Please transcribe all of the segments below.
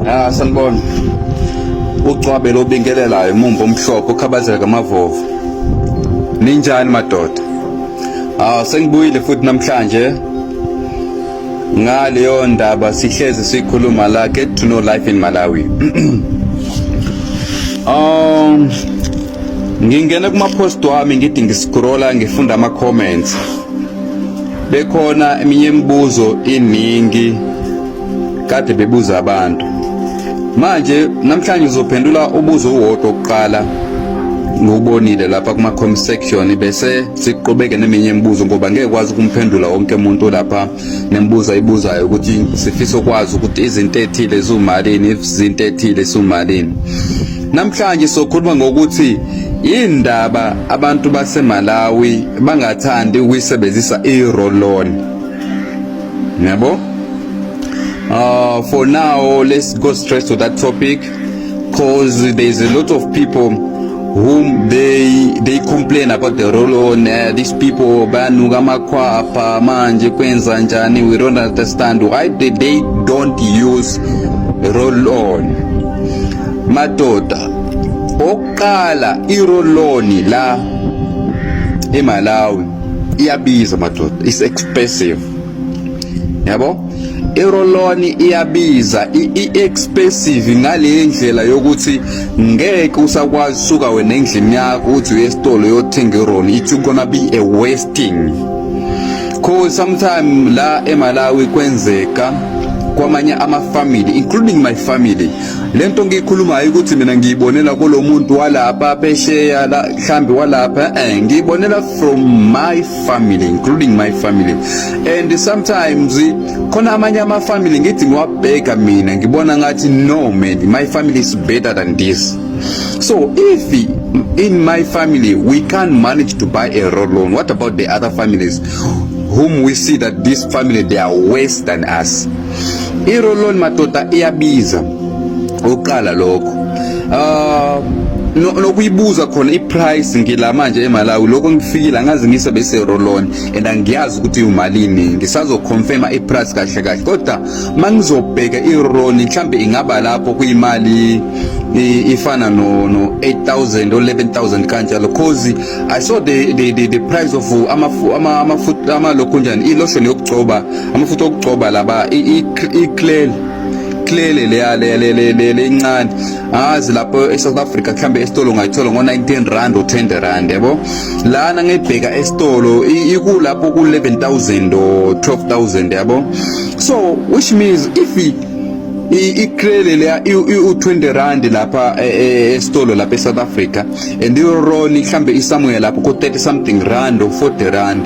Ah sanibona. Ugcwabe lobingelelayo umumbo omhlophe ukhabazela kamavovu. Ninjani madoda? Ah sengibuyile futhi namhlanje ngaleyo ndaba sihlezi sikhuluma la get to know life in Malawi. Um ngingena kuma post wami ngithi ngiscrolla ngifunda ama comments. Bekhona eminye imibuzo iningi kade bebuza abantu. Manje namhlanje uzophendula ubuzo uwodwa oqala ngubonile lapha kuma comment section bese siqhubeke neminye imibuzo ngoba ngeke kwazi ukumphendula wonke umuntu lapha nembuza ibuzayo ukuthi sifisa ukwazi ukuthi izinto ethile izumalini izinto ethile isumalini namhlanje sokhuluma ngokuthi indaba abantu baseMalawi bangathandi ukuyisebenzisa i-roll-on yabo uh, for now let's go straight to that topic because there is a lot of people whom they they complain about the roll on uh, these people banuka amakhwapha manje kwenza njani we don't understand why they, they don't use roll on madoda Qala iroloni la eMalawi iyabiza madoda, it's expensive. Yabo? Iroloni iyabiza, i-expensive ngale ndlela yokuthi ngeke usakwazi suka wena endlini yakho uthi uye esitolo yothenga ironi. It's gonna be a wasting. Cause sometime la eMalawi kwenzeka kwamanye ama family including my family lento ngiyikhulumayo ukuthi mina ngiyibonela kulomuntu walapha phesheya la mhlambi walapha eh ngiyibonela from my family including my family and sometimes khona amanye ama family ngithi ngiwabheka mina ngibona ngathi no man my family is better than this so if in my family we can't manage to buy a road loan what about the other families whom we see that this family they are worse than us I-roll-on madoda iyabiza ukuqala lokho ah nokuyibuza khona iprice ngila manje eMalawi lokho ngifikile angazi ngise bese roll-on and angiyazi ukuthi umalini ngisazoconfirma iprice kahle kahle kodwa mangizobheka iroll mhlambe ingaba lapho kuyimali ifana no no 8000 or 11000 kanjalo cause i saw the the the, the price of ama ama ama, ama lokho njani ilotion yokugcoba amafutha okugcoba laba iclel clele leya lencane angazi lapho e-south africa kuhlambe esitolo ngayithola ngo-19 rand or 20 rand yabo lana ngibheka esitolo ikulapho ku-11000 or 12000 yabo so which means if icrele leya u-20 rand lapha e, e, esitolo lapha e-south africa and ironi mhlambe isamuya lapho ku-30 something rand or 40 rand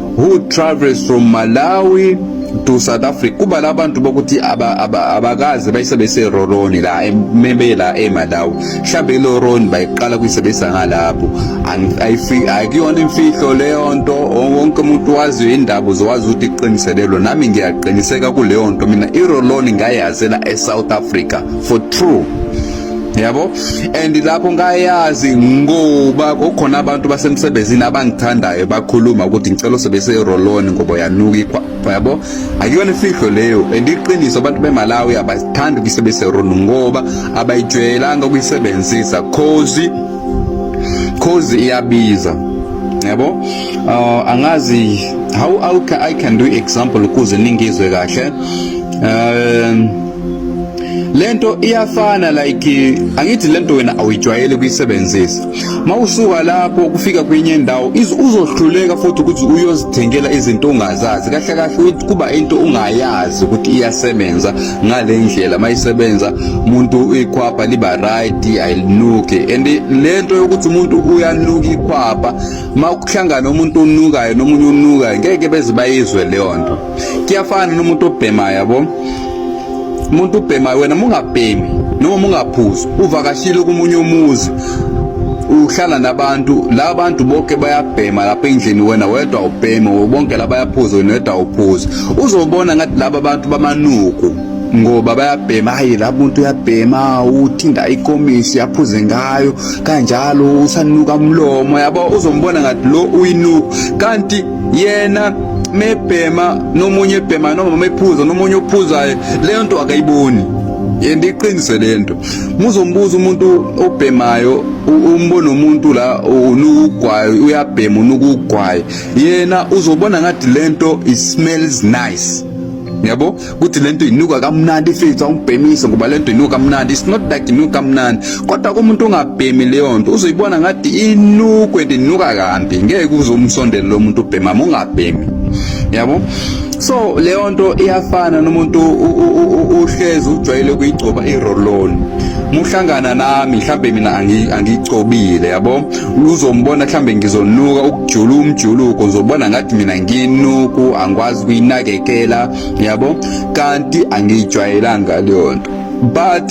who travels from Malawi to South Africa kuba labantu bokuthi abakaze bayisebenzise roroni la mebe la eMalawi mhlambe lo roroni bayiqala kuyisebenzisa ngalapho akuyona imfihlo leyo nto wonke umuntu waziyo indaba uzowazi ukuthi iqiniselelo nami ngiyaqiniseka kuleyo nto mina iroloni ngayazela eSouth Africa for true yabo and lapho ngayazi ngoba kukhona abantu basemsebenzini abangithandayo bakhuluma ukuthi ngicela usebenzise iroloni ngoba uyanuka yabo akuyona ifihlo leyo and iqiniso abantu bemalawi abathandi ukuyisebenzisa iroloni ngoba abayijwayelanga ukuyisebenzisa cause cause iyabiza yabo uh, angazi how, how I can do example ukuze ningizwe kahle um lento iyafana like angithi lento wena awuyijwayele ukuyisebenzisa mawusuka lapho ukufika kwenye indawo uzohluleka futhi ukuthi uyozithengela izinto ongazazi kahle kahle kuba into ungayazi ukuthi iyasebenza ngale ndlela mayisebenza umuntu ikhwapha liba right ayinuke and lento yokuthi umuntu uyanuka ikhwapha makuhlangana umuntu onukayo nomunye onukayo ngeke beze bayizwe leyo nto kuyafana nomuntu obhemayo yabo umuntu ubhemayo wena mungabhemi noma mungaphuzi uvakashile kumunye umuzi uhlala nabantu la bantu bonke bayabhema lapha endlini wena wedwa ubheme bonke la bayaphuza wena wedwa uphuza uzobona ngathi laba bantu bamanuku ngoba bayabhema hayi la muntu uyabhema uthinda ikomisi yaphuze ngayo kanjalo usanuka umlomo yabo uzombona ngathi lo uyinuku kanti yena mebhema nomunye ebhema noma mephuza nomunye ophuzayo leyo nto akayiboni yena iqinise lento muzombuza umuntu obhemayo umbona umuntu la unukugwayo uyabhema unukugwayo yena uzobona ngathi lento it smells nice yabo ukuthi lento inuka kamnandi ifethu awubhemise ngoba lento inuka kamnandi it's not like inuka kamnandi kodwa kumuntu ongabhemi leyo nto uzoyibona ngathi inukwe and inuka kambi ngeke uzomsondela lo muntu ubhema mongabhemi yabo so leyo nto iyafana nomuntu uhlezi ujwayele ukuyigcoba iroloni muhlangana nami mhlambe mina angigcobile yabo uzombona mhlambe ngizonuka ukujula umjuluko uzobona ngathi mina nginuku angikwazi kuyinakekela yabo kanti angiyijwayelanga leyo nto but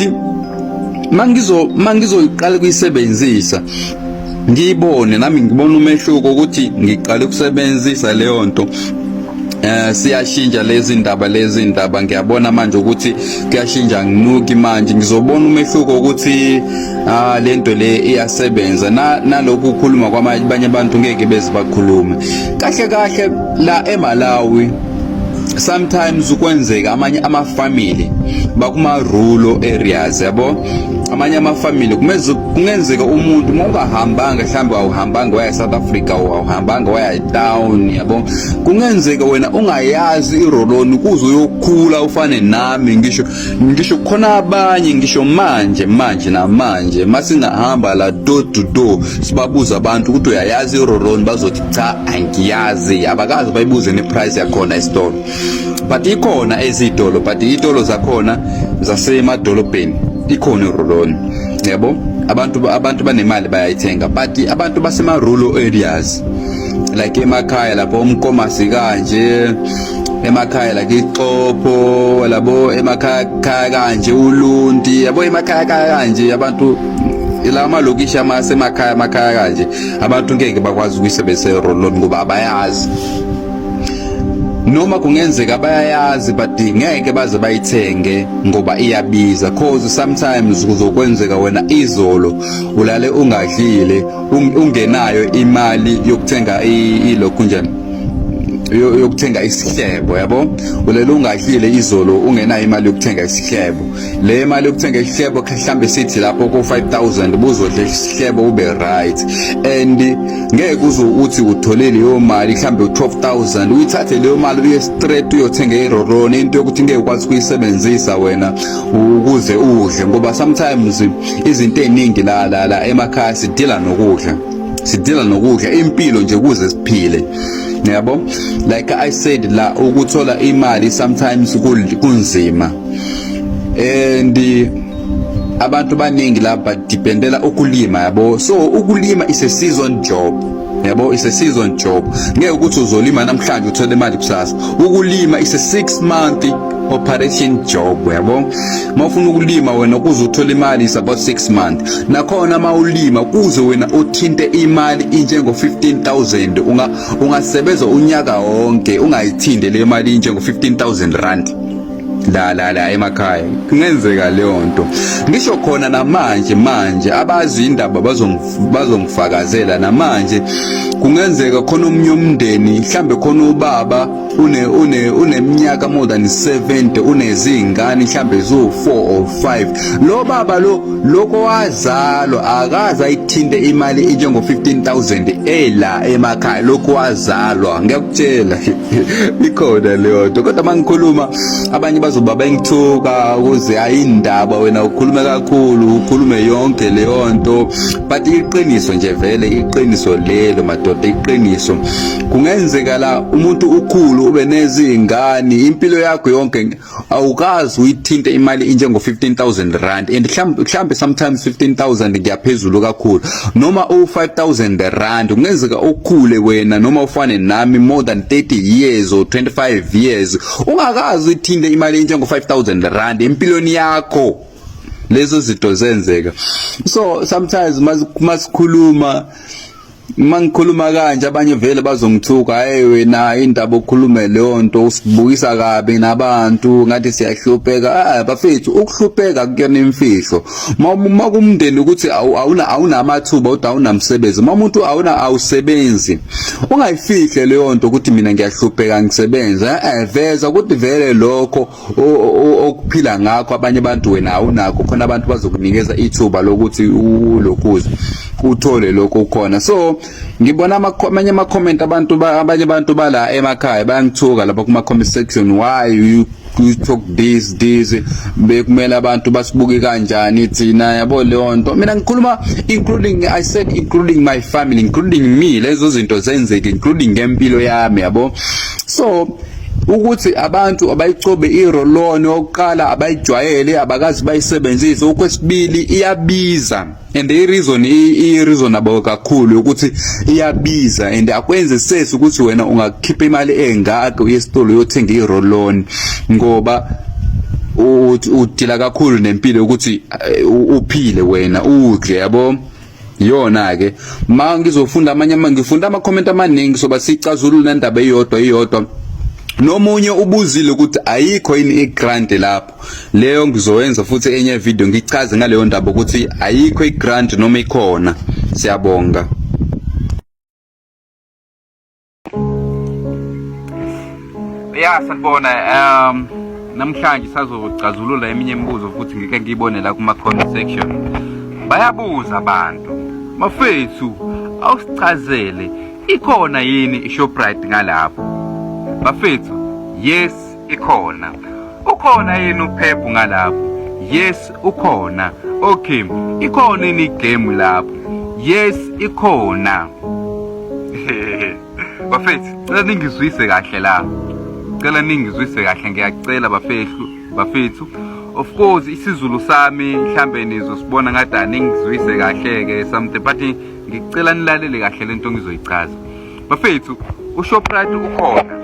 mangizo mangizoyiqala kuyisebenzisa ngiyibone nami ngibona umehluko ukuthi ngiqale ukusebenzisa leyo nto eh siyashintsha lezi ndaba lezi ndaba ngiyabona manje ukuthi kuyashintsha nginuki manje ngizobona umehluko ukuthi ah lento le iyasebenza na nalokhu ukukhuluma kwamanye abantu ngeke beze bakhulume kahle kahle la eMalawi sometimes ukwenzeka amanye ama family bakuma rural areas yabo amanye ama family kumeze kungenzeka umuntu uma ungahambanga mhlawumbe awuhambanga waya South Africa awuhambanga waya town yabo kungenzeka wena ungayazi iroloni kuze uyokhula ufane nami ngisho ngisho khona abanye ngisho manje manje namanje masingahamba la door to door sibabuza abantu ukuthi uyayazi iroron bazothi cha angiyazi abakazi bayibuze neprice yakhona esitolo but ikhona ezitolo but itolo zakhona zasemadolobheni ikhona iroron yebo abantu abantu banemali bayayithenga but abantu basema rural areas like emakhaya lapho umkomasi kanje emakhaya la kixopho labo emakhaya khaya kanje ulunti yabo emakhaya khaya kanje abantu la malokishi amasemakhaya amakhaya kanje abantu ngeke bakwazi ukuyisebenzisa iroloni ngoba abayazi noma kungenzeka bayayazi but ngeke baze bayithenge ngoba iyabiza cause sometimes kuzokwenzeka wena izolo ulale ungadlile ungenayo imali yokuthenga ilokhu njani yokuthenga isihlebo yabo ulele ungahlile izolo ungenayo imali yokuthenga isihlebo le mali yokuthenga isihlebo mhlambe sithi lapho ko 5000 buzodla isihlebo ube right and ngeke uze uthi uthole leyo mali mhlambe 12000 uyithathe leyo mali uye straight uyothenga iroroni into yokuthi ngeke ukwazi kuyisebenzisa wena ukuze udle ngoba sometimes izinto eziningi la la la emakhaya sidila nokudla sidinga nokudla impilo nje kuze siphile yabo like i said la ukuthola imali sometimes kunzima and abantu baningi la badependela ukulima yabo so ukulima is a season job yabo is a season job ngeke ukuthi uzolima namhlanje uthole imali kusasa ukulima is a 6 month operation job yabo mawufuna ukulima wena kuze uthole imali is about 6 months nakhona mawulima kuze wena uthinte imali injengo 15000 unga ungasebenza unyaka wonke ungayithinde le mali injengo 15000 rand la la la emakhaya kungenzeka leyo nto ngisho khona namanje manje abazi indaba bazongifakazela namanje kungenzeka khona omunye umndeni mhlambe khona ubaba une une uneminyaka more than 70 unezingane mhlambe zo 4 or 5 lo baba lo lokho wazalo akaza ithinte imali enjengo 15000 ela emakhaya lokho wazalwa ngiyakutshela ikhona leyo nto kodwa mangikhuluma abanye bazoba bengithuka ukuze ayindaba wena ukhulume kakhulu ukhulume yonke leyo nto but iqiniso nje vele iqiniso lelo madoda iqiniso kungenzeka la umuntu ukhulu ube nezingane impilo yakho yonke awukazi uyithinte imali injengo 15000 rand and mhlambe sometimes 15000 ngiyaphezulu kakhulu noma u 5000 rand kungenzeka ukhule wena noma ufane nami more than 30 years or 25 years ungakazi uyithinte imali injengo 5000 rand empilweni yakho lezo zinto zenzeka so sometimes masikhuluma Uma ngikhuluma kanje abanye vele bazongithuka hayi wena indaba okhulume leyo nto usibukisa kabi nabantu ngathi siyahlupheka ah bafethu ukuhlupheka kuyona imfihlo uma kumndeni ukuthi awuna awunamathuba uthi awunamsebenzi uma umuntu awuna awusebenzi ungayifihle leyo nto ukuthi mina ngiyahlupheka ngisebenza eh veza ukuthi vele lokho okuphila ngakho abanye abantu wena awunakho khona abantu bazokunikeza ithuba lokuthi ulokhuze uthole lokho khona so ngibona amanye ama comment abantu abanye abantu bala emakhaya bayangithuka lapha kuma comment section why you you talk this this bekumele abantu basibuke kanjani thina yabo leyo nto mina ngikhuluma including i said including my family including me lezo zinto zenzeke including ngempilo yami yabo so ukuthi abantu abayicobe iroloni okokuqala abayijwayele abakazi bayisebenzise okwesibili iyabiza and i-reason i-reasonable kakhulu ukuthi iyabiza and akwenze sesi ukuthi wena ungakhipha imali engaka uye esitolo uyothenga iroloni ngoba udila kakhulu nempilo ukuthi eh, uphile wena udle yabo Yona ke ma ngizofunda amanye ama ngifunda ama comment amaningi soba sicazulula indaba eyodwa eyodwa nomunye ubuzile ukuthi ayikho yini igrant lapho leyo ngizoyenza futhi enye video ngichaze ngaleyo ndaba ukuthi ayikho igrant noma ikhona siyabonga ya sanibona um namhlanje sazogcazulula eminye imibuzo futhi ngike ngiyibone la kuma-comment section bayabuza abantu mafethu awusichazele ikhona yini ishoprite ngalapho bafethu yes Ikhona. Ukhona yini uphephu ngalapho? Yes, ukhona. Okay, ikhona yini igame lapho? Yes, ikhona. Bafethu, cela ningizwise kahle la. Cela ningizwise kahle ngiyacela bafethu, bafethu. Of course isiZulu sami mhlambe nizosibona ngathi aningizwise kahle ke something but ngicela nilalele kahle lento ngizoyichaza. bafethu ushoprite ukhona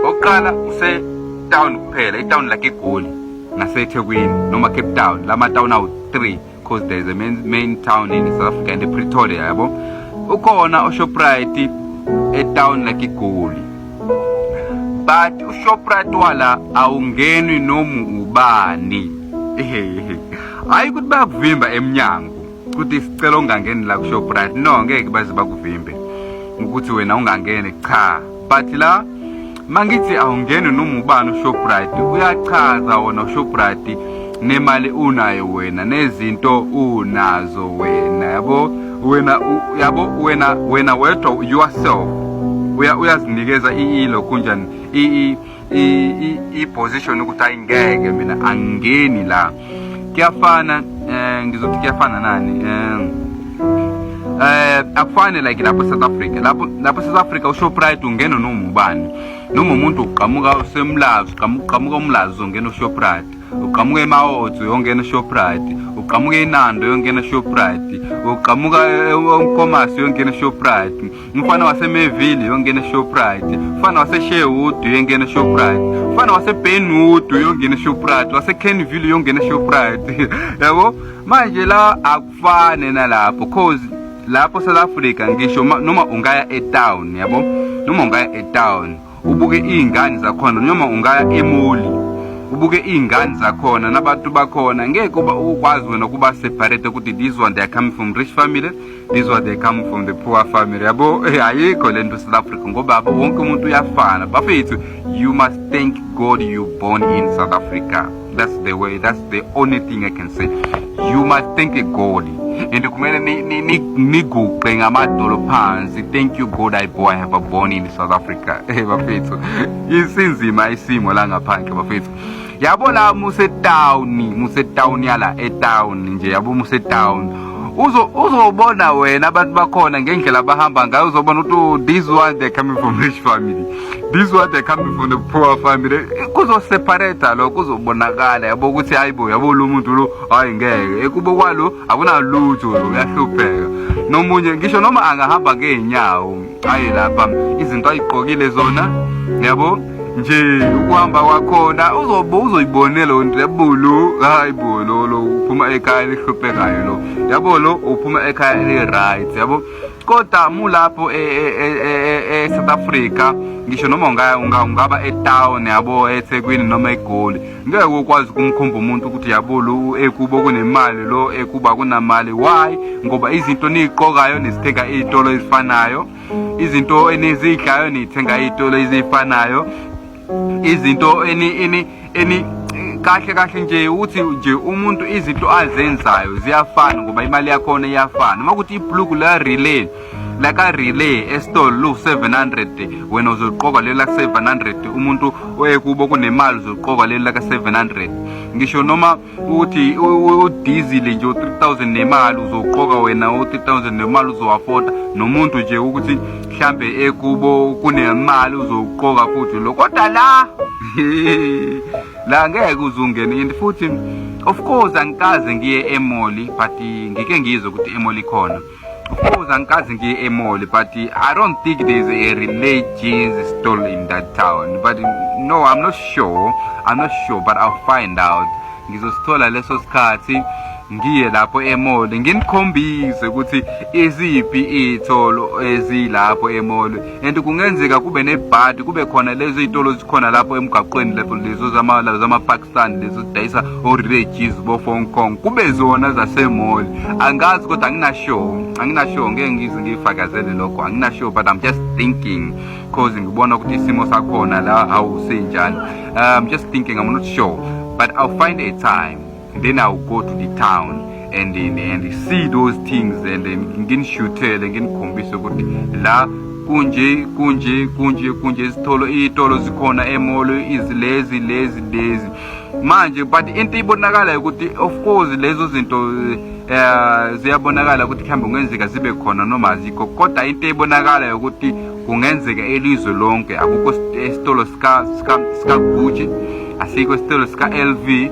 oqala use town kuphela itown like egoli nasethekwini noma cape town lama town awu 3 because there is a main, main town in south africa and pretoria yabo ukhona ushoprite etown like egoli but ushoprite wala awungenwi noma ubani hayi ukuthi bayakuvimba emnyango ukuthi sicela ungangeni la kuShoprite no ngeke baze bakuvimbe ukuthi wena ungangene cha but la mangithi awungeni noma ubani uShoprite uyachaza wona uShoprite nemali unayo wena nezinto unazo wena yabo wena yabo wena wena wedwa yourself uyazinikeza ilo kunjani i-position ukuthi hayi ngeke mina angingeni la kuyafana um ngizothi kuyafana nani um eh akufane like lapho South Africa lapho lapho South Africa uShoprite ungena noma ubani noma umuntu uqhamuka usemlazi uqhamuka uqhamuka umlazi uzongena uShoprite uqhamuka emaotho uyongena uShoprite uqhamuka inando uyongena uShoprite uqhamuka eNkomazi uyongena uShoprite umfana wasemeville uyongena eshoprite umfana wasesherwood uyongena eshoprite umfana wasebenwood uyongena eshoprite wasekenville uyongena eshoprite yabo manje la akufane nalapho cause lapho south africa ngisho noma ungaya etown yabo noma ungaya etown ubuke iy'ngane zakhona noma ungaya emoli ubuke iy'ngane zakhona nabantu bakhona ngeke uba ukwazi wena ukuba separate ukuthi this one they come from rich family this one they come from the poor family yabo eh, ayikho le nto south africa ngoba wonke umuntu uyafana bafethu you must thank god you born in south africa That's the way, that's the only thing I can say. You must thank God. And kumele niguqe ngamadolo phansi. Thank you God I boy I have a born in South Africa. Eh bafethu. Isinzima isimo la ngaphandle bafethu. Yabo la muse town, muse town yala e town nje yabo muse town. Uzo uzobona wena abantu bakhona ngendlela abahamba ngayo uzobona ukuthi oh, this one they coming from rich family. this what they coming from the poor family kuzoseparata lo kuzobonakala yabo ukuthi hayi bo yabo lo muntu lo hayi ngeke ekubo kwalo akunalutho uyahlupheka nomunye ngisho noma angahamba ngeenyawo hayi lapha izinto ayiqokile zona yabo nje ukuhamba kwakhona uzobe uzoyibonela lo nto yabulu hayi bo lo lo uphuma ekhaya elihluphekayo lo yabo lo uphuma ekhaya eli-right yabo kodwa mulapho e, e, e, e-south africa ngisho noma ungaba etown yabo ethekwini noma egoli ngeke ukwazi ukumkhomba umuntu ukuthi yabolo ekubo kunemali lo ekuba kunamali why ngoba izinto niyiqokayo nizithenga iy'tolo ezifanayo izinto enizidlayo niyithenga iy'tolo ezifanayo izinto eni eni eni kahle kahle nje uthi nje umuntu izinto azenzayo ziyafana ngoba imali yakhona iyafana uma kuthi ibhluku la relay laka relay esitolo lu 700 wena uzoqoka leli laka 700 umuntu oyekubo kunemali uzoqoka leli laka 700 ngisho noma uthi udizile nje u-3000 nemali uzoqoka wena u-3000 nemali uzowafoda nomuntu nje ukuthi mhlambe ekubo kunemali uzoqoka futhi lo kodwa la la ngeke uzungena and futhi of course angikaze ngiye emoli but ngike ngizwe ukuthi emoli khona Of course, angikaze ngiye emoli but I don't think there's a religious stall in that town. But no, I'm not sure. I'm not sure, but I'll find out. Ngizosithola leso sikhathi ngiye lapho emoli nginikhombise ukuthi iziphi iy'tolo ezilapho emoli and kungenzeka kube nebhadi kube khona lezi y'tolo zikhona lapho emgaqweni lapho lezo zama-park stand lezi udayisa orejiz bo-fong kong kube zona zasemoli angazi kodwa anginashow anginashow ngeke ngize ngiyifakazele lokho anginashow but i'm just thinking cause ngibona ukuthi isimo sakhona la hawu sinjani i'm um, just thinking i'm not sure but i'll find a time then i'll go to the town and and see those things and nginishutele nginikhombise ukuthi la kunje kunje kunje kunje izitolo iy'tolo zikhona emolo izilezi lezi lezi manje but into ibonakalayo ukuthi of course lezo zinto um ziyabonakala ukuthi kuhambe kungenzeka zibe khona noma azikho kodwa into ebonakalayo ukuthi kungenzeka elizwe lonke akukho isitolo sikagucci asikho isitolo sika-l v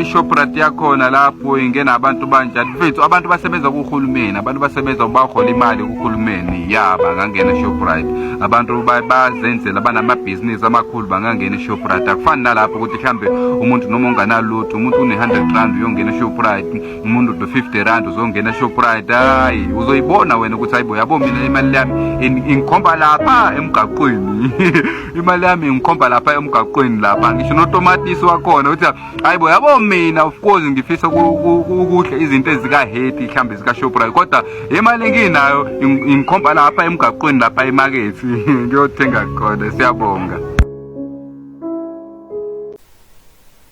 ishoprat yakhona lapho ingena abantu banjani mfethu abantu basebenza kuhulumeni abantu basebenza bahola imali kuhulumeni ya bangangena eshoprit abantu bazenzela banamabhizinisi amakhulu bangangena eshoprit akufani nalapho ukuthi mhlawumbe umuntu noma unganalutho umuntu une-hundred rand uyongena eshoprit umuntu no-fifty rand uzongena eshoprit hayi uzoyibona wena ukuthi hayibo yabo mina imali yami ingikhomba lapha emgaqweni imali yami ngikhomba lapha emgaqweni lapha ngisho notomatisi wakhona uthi hayi bo yabo mina of course ngifisa ukudla izinto ezikaheti mhlawumbe zikashoprite kodwa imali enginayo ngikhomba lapha emgaqweni lapha emakethi ngiyothenga khona siyabonga